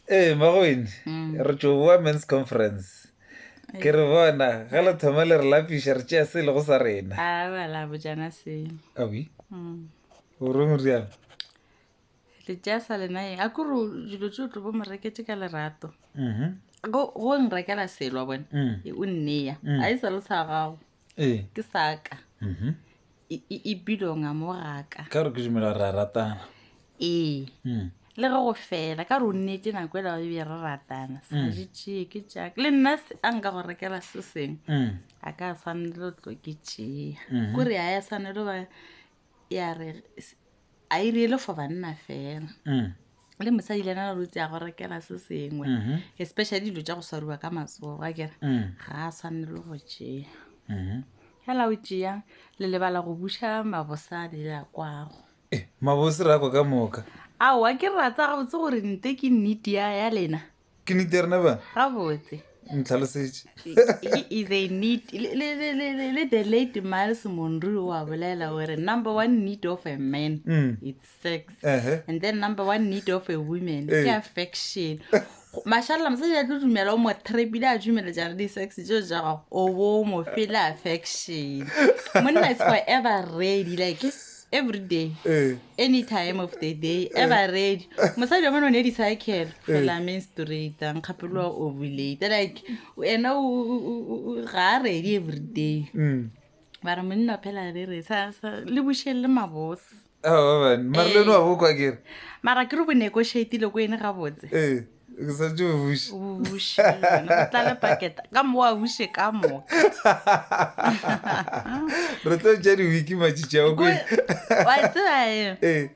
Ee, Magwene, mm. re tšo boa men's conference. Ke re bona, ga le thoma le re lapiša re tšea se e lego sa rena. A ah, ba la bojana se. Abi? Mm. O re moriana? Le tšea sa lena eng? A kore dilo tšeo tlo bo morekete ka lerato. Mm-hmm. Go nrekela selwa bone, mm. e o nneya. Mm. A e sa le sa gago. ee ke saka mhm. E- e- e bilonga mo gaka ka gore ke dumela gore re a ratana ee Mm. le ge go fela ka gore o nnete nako e lago ebje re ratana sa Mm. jetšee ke jaaka le nna se a nka go rekela se seng Mm. a ka tshwanelo tlo ke tšea Mhm. kore a ya tshwanelo ba ya re s- a e riele for banna fela Mm. le mosadi le ena rutse ya go rekela se sengwe Mhm. especially dilo tša go swariwa ka matsogo a kere Mm. ga a tshwanele go tšea Mhm. fela o tšea le lebala go buša mabosadi le a kwago Eh, mabose ra kwa ka moka ao a ke ratsa gabotse gore nte ke nnete ya ya lena ke nete rena ba gabotse ntlhalosetše le the late miles monrue wa bolela gore number one need of a man mm. it's sex uh -huh. and then number one need of a woman eh. ke affection mashalela mosadi a tlo dumela o mo trepile a dumele jare di-sex jo ja gago o bo mo fele affection monna is forever ready like every day ee any time of the day ever ready mosadi wa mone o ne di cycle fela main straight a nkgapeloa ovulate like ena o- o- o- o- o- ga a ready every day mm. ba re monna phela re re sa sa- le bušeng le mabose aoban mare le no wa bokwa kere mara ke re bo negotiatile ko ene gabotse ee ke sa tšeo buši o buše go tlale paketa ka mo wa buše ka moka re tlo tša di-wiki matšitši ao kwele wa tseba eng ee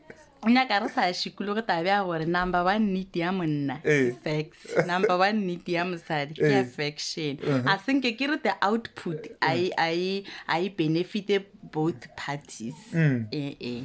nyaka re sa šikologe tabe ya gore number one need ya monna ke Eh. facts number one need ya mosadi ke Eh. affection Uh-huh. a senke ke re the output a e- a e- a e benefite both parties Mm. ee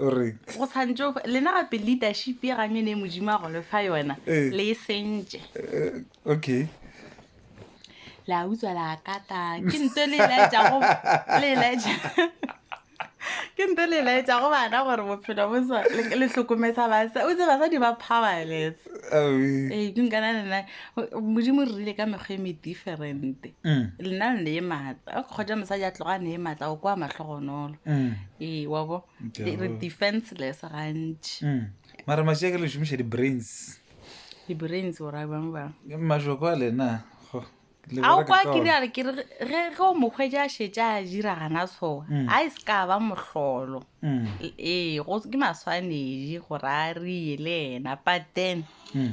o reng go tshwantšo lena gape leadership ye ga mene e modimo a go lefa yona Ee. le e sentše Eh, okay la utswa la kata ke nto le laetša go le laetša ke nto le laetša go bana gore bophelo bo sa le le hlokomesa basa o tse basadi ba powerless Aowi. ee ke nkana nena modimo re rile ka mekgwa e mediferente Mm. lena le ne e maatla a kgotsa mosadi a tloga a ne e maatla o kwa matlhogonolo Mm. ee wa bo Ke re re go- defenseless gantši Mm. mara mašia ke le šomiša di-brains di-brains o ra bjang bang Ke mašoko a lena go, le a o bereka kwa ka kiri one. a re kere ge ge o mokgwetsi a šetše a jira gana tshoga Mm. a e se ka ba mohlolo Mm. L- ee go ke maswanedi gore a rie le ena but then Mm.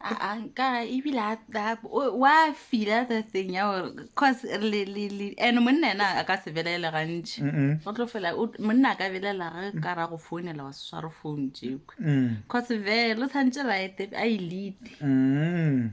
aa nka ebile a- a- o- wa fila the thing ya gore cause le- le- le- and monna ena a ka se belele gantši Mm-mm. go tlo fela o- monna a ka belela ge ka ra go founela wa se sware phone jeko Mm. cause vele o tshwantse ba ete a e elite Mm.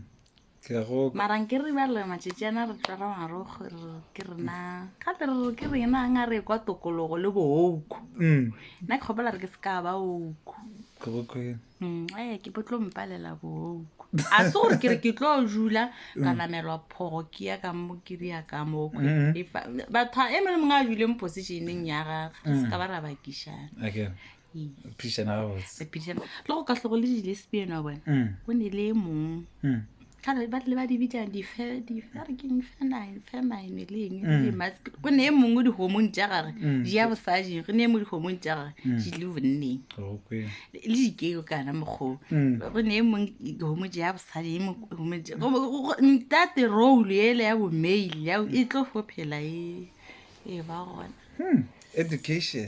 Ke a go- mara nke re bale matšatši ana re tlala marogo re re ke rena gape re re ke rena nga re kwa tokologo le booko Mm. nna ke kgopela re ke se ka ba oko Ke go kwele. Mm, ee ke bo tlo mpalela booko a se gore ke re ke tlo jula ka namelwa phogo ke ya ka mo ke ria ka mokwe Mhm. E fa- batho e mele mongwe a juleng positioneng ya gage re se ka ba ra bakišana Okay. Ee. Phedišana gabotse. Re phedišana. le go ka hlogo le di-lesbian wa bona Mm, go ne le e mong mm. kgale ba rile ba di bitsa dife dife a re ke infamine famine le eng le Mm. mas- go ne e mongwe dihomong tša gage Mm. di ya bosajeng go ne e mongwe dihomong tša gage Mm. di le bonneng okay le dikeo kana mokgoo Mm. go ne e mong dihomong tša ya bosadi e mong- homo tša- go- go- go- ntate role ele ya bomail ya e tlo fo phela e e ba gona Hmm, education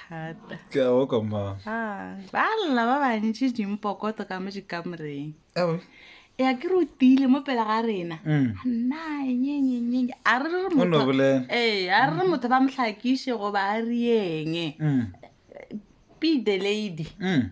thata ke a oka mma Ah, ba lla ba bantši dimpokoto ka mo dikamoreng Ewe. e ya ke re o tiile mo pele ga rena Mm. nanyenyenyenye a re re O no motho- bolela. ee a re re motho ba mohlakiše goba a riyeng Mm. be the lady Mm.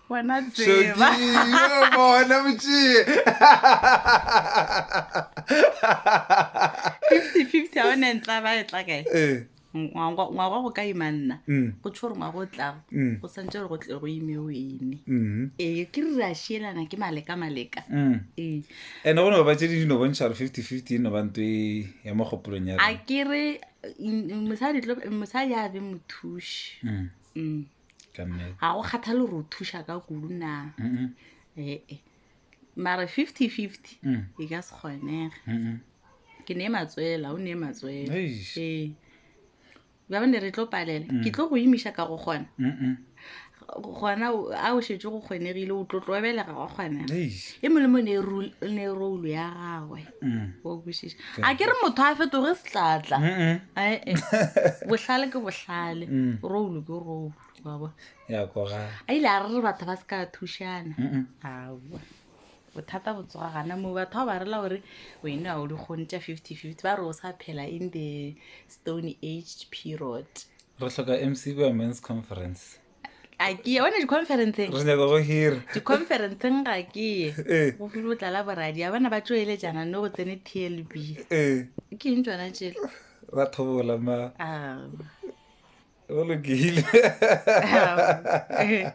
Wena tseba. Yo bona motšee. 50-50 a one ntla ba e tla kae? Eh. Ngwaga ngwaga go ka ima nna. Mm. Go tšho gore ngwaga o tlago. Mm. Go santse gore go tle go ime o ene. Mhm. Ee, ke re re a šielana ke maleka maleka. Mm. Ee. Ene go no ba tše di di no bontšha gore 50-50 e no ba nto e ya mo kgopolong ya a rena. ke re mm, mosadi tlo- mosadi a be mothuši Mm. Mm. ka mme ga go kgathale gore o thuša ka kudu na Mm-mm. ee mare fifty fifty Mm. e ka se kgonega Mm-mm. ke ne matswela o ne matswela Eish. ee ba bane re tlo palela ke tlo go imiša ka go kgona Mm-mm. gona o- a o šetse go kgonegile o tlo tlobelega go kgonega Eish. e molemo ne e rul- ne e roulo ya gagwe mm. a ke re motho a fetoge setlatla ee eh. bohlale ke bohlale mm. roulu ke roulu baba a ile a re re batho ba se ka thušana aa bothata bo tsoga gana moo batho ba ba rela gore wene a o di kgone tša fifty fifty ba re o sa phela in the stone age period re tlhoka mcb a men's conference a ke ye one di-conferenceng re nyaka go hira di-conferenceng ga ke ye ee go file o tlala boradia bana ba tšoelejana no go tsene tlb ee ke eng tsona tšele ba thobola ma Ah. go lokile Ah.